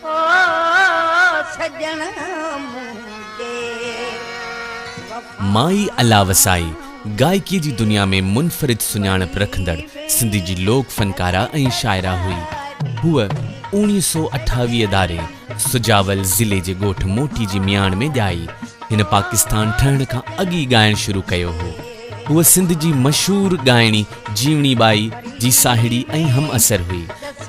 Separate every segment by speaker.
Speaker 1: او سڄڻ منهنجي وفا. مائي الله وسائي گائڪيء جي دنيا ۾ منفرد سڃاڻپ رکندڙ سنڌ جي لوڪ فنڪاره ۽ شاعره هئي. هوء اوڻيهه سؤ اٺاويهه ڌاري سجاول ضلعي جي ڳوٺ موٽي جي مياڻ ۾ ڄائي. هن پاڪستان ٺهڻ کان اڳ ئي ڳائڻ شروع ڪيو هو. هوء سنڌ جي مشهور ڳائڻي جيوڻي ٻائي جي ساهيڙي ۽ همعصر هئي.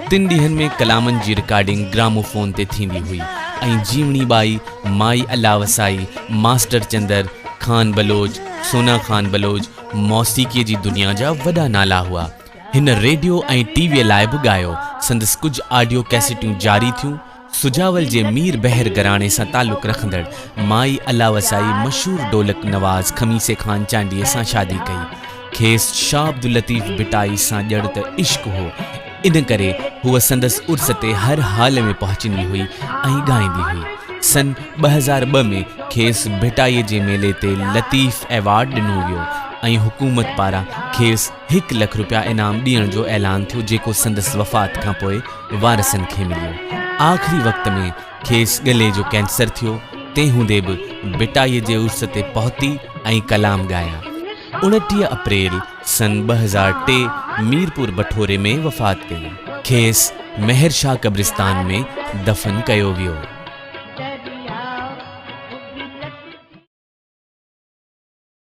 Speaker 1: تن ڏينهن ۾ ڪلامن جي رڪارڊنگ گرامو فون تي ٿيندي هئي ۽ جيوڻي ٻائي مائي الله وسائي، ماسٽر چندر، خان بلوچ، سونا خان بلوچ موسيقيء جي دنيا جا وڏا نالا هئا. هن ريڊيو ۽ ٽي ويء لاء به ڳايو. سندس ڪجهه آڊيو ڪيسيٽون جاري ٿيون. سجاول جي مير بحر گهراڻي سان تعلق رکندڙ مائي الله وسائي مشهور ڍولڪ نواز خميسي خان چانڊيي سان شادي ڪئي. کيس شاهه عبداللطيف ڀٽائي سان ڄڻ ته عشق هو، ان ڪري هوء سندس عرس تي هر حال ۾ پهچندي هئي ۽ ڳائيندي هئي. سن ٻه هزار ٻه ۾ کيس ڀٽائي جي ميلي تي لطيف ايوارڊ ڏنو ويو ۽ حڪومت پاران کيس هڪ لک رپيا انعام ڏيڻ جو اعلان ٿيو جيڪو سندس وفات کانپوء وارثن کي مليو. آخري وقت ۾ کيس ڳلي جو ڪينسر ٿيو تنهن هوندي به ڀٽائي جي عرس تي پهتي ۽ ڪلام ڳايا. اڻٽيهه اپريل سن ٻه هزار ٽي ميرپور بٺوري ۾ وفات ڪئي. کيس مهر شاهه قبرستان ۾ دفن ڪيو ويو.